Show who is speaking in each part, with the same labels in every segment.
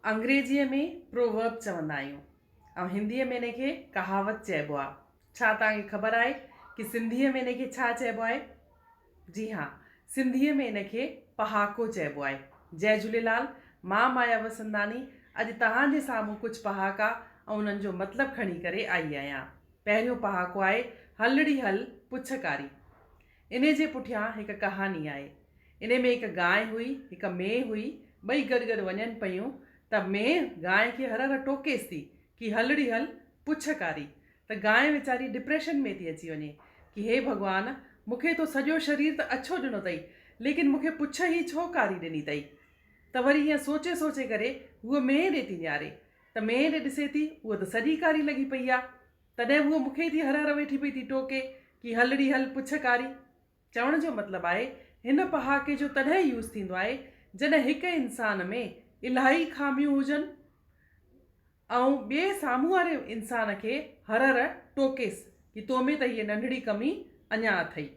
Speaker 1: انگريزيء ۾ Proverb چوندا آهيون ۽ هنديء ۾ ان کي ڪهاوت چئبو آهي. ڇا توهان کي خبر آهي ته سنڌيء ۾ ان کي ڇا چئبو آهي؟ جي ها، سنڌيء ۾ ان کي پهاڪو چئبو آهي. جئه جهوليلال، مان مايا وسنداني اڄ توهان جي سامهون ڪجهه پهاڪا ۽ انهن جو مطلب کڻي ڪري آئي آهيان. پهريون پهاڪو آهي، هلڙي هل، پڇ ڪاري. انهي جي پٺيان هڪ ڪهاڻي آهي. انهي ۾ هڪ گانء هئي، هڪ مينهن هئي، ٻئي گڏ گڏ وڃن پيون ته مينهن گانء کي هر هر ٽوڪيس ٿي ڪي هلڙي هل، پڇ ڪاري ته گانء ويچاري ڊپريشن ۾ ٿي اچي وڃي ڪي هي ڀڳوان مون کي تو سڄو شرير ته اڇو ڏنو تئي ليڪن مون کي پڇ هي ڇو ڪاري ڏني تئي ته وري ائين سوچي سوچي ڪري هوء مينهن ڏي ٿي نهاري ته مينهن ڏي ڏسي ٿي هوء ته سڄي ڪاري لڳي پئي آ. تڏهن هوء مون کي ئي ٿي هر هر ويٺي پئي ٿي ٽوڪي ڪي هلڙي هل پڇ ڪاري. چوڻ جو مطلب آهي هن پهاڪي جو تڏهن يوز ٿيندو آهي جڏهن هڪ انسان ۾ الاهي خاميون هجن ۽ ٻئي سامهون واري انسان کي هر هر ٽوڪيس ڪي تو ۾ ته هيء ننڍڙي ڪمي اڃا اٿئي.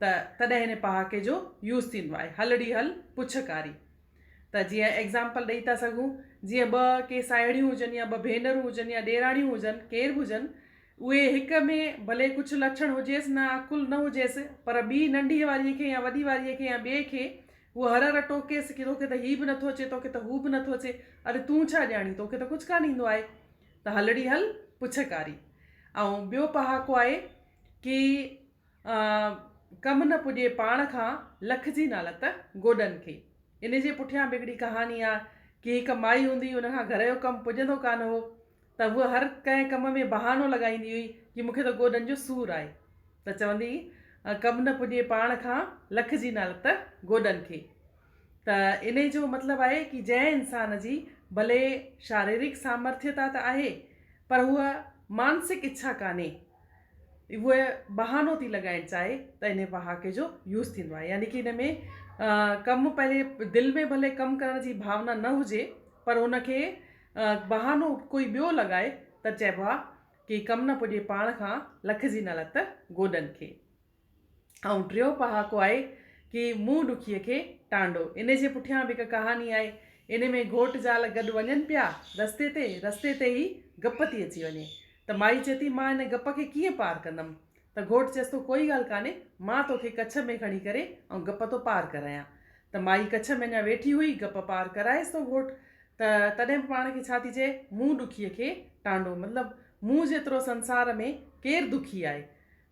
Speaker 1: ته تڏهن هن پهاڪي جو يوز ٿيندو آهي هلڙي هل پڇ ڪاري ته جيئن ايگزامپل ڏئي ٿا سگهون جيئن ٻه ڪي ساهيڙيون هجن يا ٻه ڀينرون هجن يا ڏيراڻيون هجن ڪير به هجن اهي هڪ ۾ ڀلي ڪجهه لڇڻ هجيس نه عقل نه هجيس پر ٻي ننڍي واري کي يا وڏي واري کي يا ٻئي کي هو هر هر ٽوڪيس ڪي توکي ته هي به نٿو اچي توکي ته هو به نٿو اچي اڙي تون ڇا ڄاڻين توکي ته ڪجهه ڪانه ايندو آهي ته هلڙي هل پڇ ڪاري ۽ ٻيو پهاڪو آهي ڪي ڪم نه پڄي پاڻ کان، لکجي نالت گوڏن کي. ان جي پٺيان به هڪڙي ڪهاڻي آ ڪي هڪ مائي هوندي هئي ان کان گهر جو ڪم پڄندو ڪانه هو ته هوء هر ڪنهن ڪم ۾ بهانو لڳائيندي هئي ڪي مونکي ته گوڏن جو سور آهي ته چوندي هئي ڪم نه پڄي پاڻ کان لکجي نالت گوڏن کي ته انهي جو مطلب آهي ڪي جنهن انسان جي ڀلي شاريرڪ سامرٿيتا ته آهي پر هوء مانسڪ اڇا ڪانهي اهو بهانو ٿي لڳائڻ چاهي ته ان پهاڪي جو يوز ٿيندو آهي يعني ڪي ان ۾ ڪم پنهنجي دل ۾ ڀلي ڪم ڪرڻ جي ڀاونا نه هجي پر ان کي بهانو ڪوئي ٻيو لڳائي ته چئبو آهي ڪي ڪم نه پڄي پاڻ کان لکجي نه لت گوڏن کي ۽ ٽيون پهاڪو آهي ڪي منهن ڏکيء کي ٽانڊو. ان جي پٺيان به هڪ ڪهاڻي آهي. ان ۾ گهوٽ زال گڏ وڃن پيا رستي تي، رستي تي ئي گپ ٿي اچي وڃي ته مائي چئي ٿي مان ان گپ کي ڪيئن پار ڪندم ته گهوٽ چيس ٿو ڪوئي ڳالهه ڪانهي مان توکي ڪڇ ۾ کڻي ڪري ۽ گپ ٿو پار ڪرايان ته مائي ڪڇ ۾ اڃا ويٺي هئي گپ پار ڪرايس ٿو گهوٽ ته تڏهن به پاڻ کي ڇا ٿي چئي منهن ڏکيء کي ٽانڊو مطلب مون جيترو سنسار ۾ ڪير دکي آهي.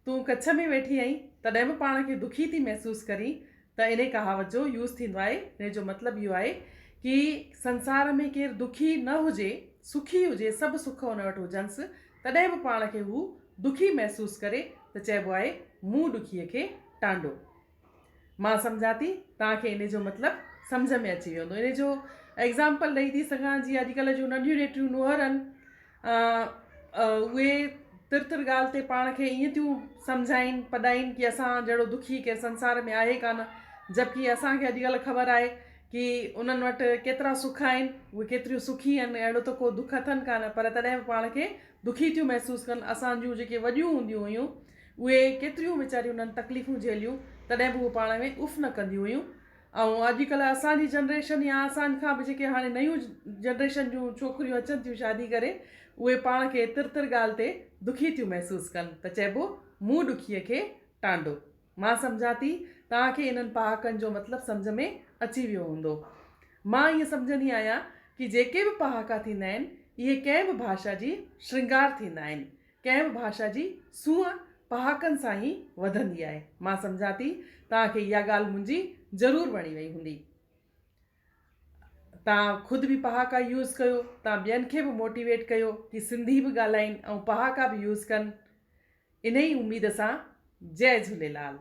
Speaker 1: تون ڪڇ ۾ ويٺي آهين تڏهن به پاڻ کي دکي ٿي محسوس ڪرين ته انهي ڪهاوت جو يوز ٿيندو آهي انهي جو مطلب اهو آهي ڪي سنسار ۾ ڪير دکي نه هجي سکي هجي سڀ سک ان وٽ هجنس تڏهن به پاڻ کي هو دکي محسوس ڪري ته چئبو آهي مون ڏکي کي ٽانڊو. مان سمجهان ٿي توهان کي ان جو مطلب سمجهه ۾ اچي ويو هوندو. ان جو ايگزامپل ڏئي ٿي سگهان جيئن اڄڪلهه جون ننڍيون نيٽيون نوهرن اهي تر تر ڳالهه تي پاڻ کي ائين ٿيون سمجهائين پڏائين ڪي اسان جهڙو دکي ڪير سنسار ۾ آهي ڪانه جبڪي اسان کي اڄڪلهه خبر آهي ڪي انهن وٽ ڪيترا سک آهن اهي ڪيتريون سکي آهن اهڙو ته ڪو دک اٿن ڪانه پر تڏهن به پاڻ کي دکي ٿيون محسوس ڪن اسان جون جيڪي وڏيون هونديون هيون اهي ڪيتريون ويچاريون انهن تڪليفون جهليون تڏهن به هو پاڻ ۾ اف نه ڪنديون هيون ۽ اڄ ڪلهه اسان جي جنريشن يا اسان کان به جيڪي هاڻي نيون جنريشن جون ڇوڪريون اچن ٿيون شادي ڪري اهي پاڻ کي تر تر ڳالهه تي دکي ٿيون محسوس ڪن ته چئبو مون ڏکيء کي ٽانڊو مان سمجهان ٿي توهان کي انهن پهاڪن جو مطلب سمجهه ۾ اچي ويو هوندو مان ائين سمجهندي آهيان ڪي جيڪي به پهاڪا ٿيندا آهن اهي ڪنهن به ڀاشا جي شرنگار ٿيندا آهن ڪنهن به ڀاشا جي سونهن پهاڪن سان ئي وڌندي آهي. مان سمجهان ٿي توهان کي اها ڳالهه منهنجي ضرور وڻي وئي هوندي. توهان خود به پهاڪا يوز ڪيو، توهان ٻين کي به موٽيويٽ ڪيو ڪي سنڌي به ڳالهائين ۽ پهاڪا به يوز ڪن. انهي اميد سان جئي جهوليلال.